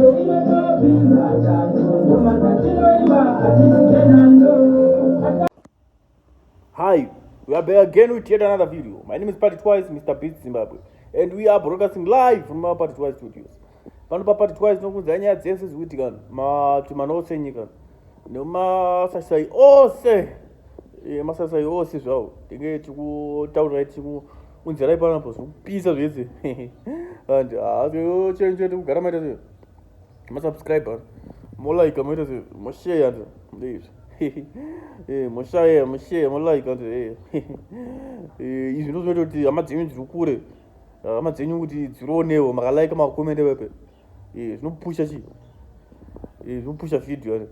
Hi, we are back again with yet another video. My name is Party Twice, Mr. Beat Zimbabwe, and we are broadcasting live from our Party Twice studios. Pano pa Party Twice tinokuudzai nyaya dzese dzikuitika matumana ose enyika nemasasai ose eh, masasai ose zvawo tinge tikutaurirai tiku Unjarai pana po zvokupisa zvese. And ah yo change chete kugara maita se. Ma subscriber. Mo like maita se mo share and ndizvo. Eh mo share mo share mo like and eh. Eh izvi ndozvinoita kuti hama dzenyu dziri kure. Hama dzenyu kuti dziroonewo maka like maka comment pepe. Eh zvinopusha chi. Eh zvinopusha video yani.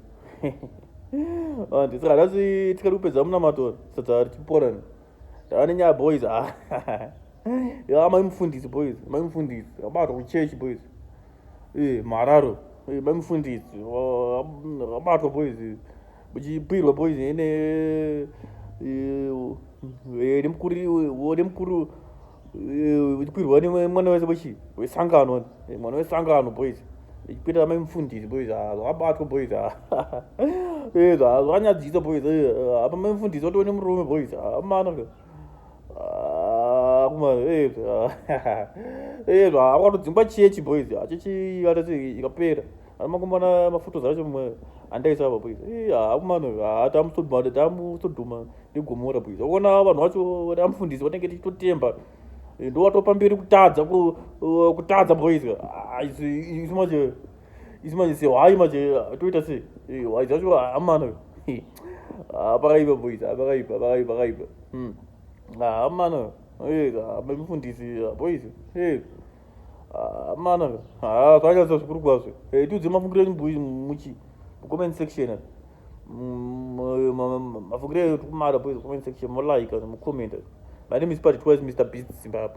And saka nhasi tikati kupedza munamato sadza tiporani. ndava nenyaya boys ah. ya mai mufundisi boys mai mufundisi abatwa kuchechi boys eh, mararo eh, mai mufundisi abatwa boys muchipirwa boys ene eh, nemukuru ichikwirwa nemwana wese wechi wesangano mwana wesangano boys ichikwira amai mufundisi boys zvabatwa boys zvanyadzisa boys apa mai mufundisi watove nemurume boys amana akatodzingwa chechi boys chechi ikapera makumbona mafotos acho mwe andaisa apa please eh akumano atamusoduma tamusoduma negomora please ukona vanhu vacho vari amfundisi vanenge tichitotemba eh, ndo watopa mberi kutadza eh, kutadza boys ah, isu manje isu manje se why manje ah, toita se eh, why zvacho amano ah, pakaipa boys pakaipa pakaipa pakaipa hmm. amano eh mfundisi boys eh amana ah, haa ah, kanyatsa zvikuru kwazvo eh, tiudze mafungiro enyu bui muchi mucomment section mm, mafungiro eyo tikumada bui comment section molaika mucomment my name is party twice mr beast zimbabwe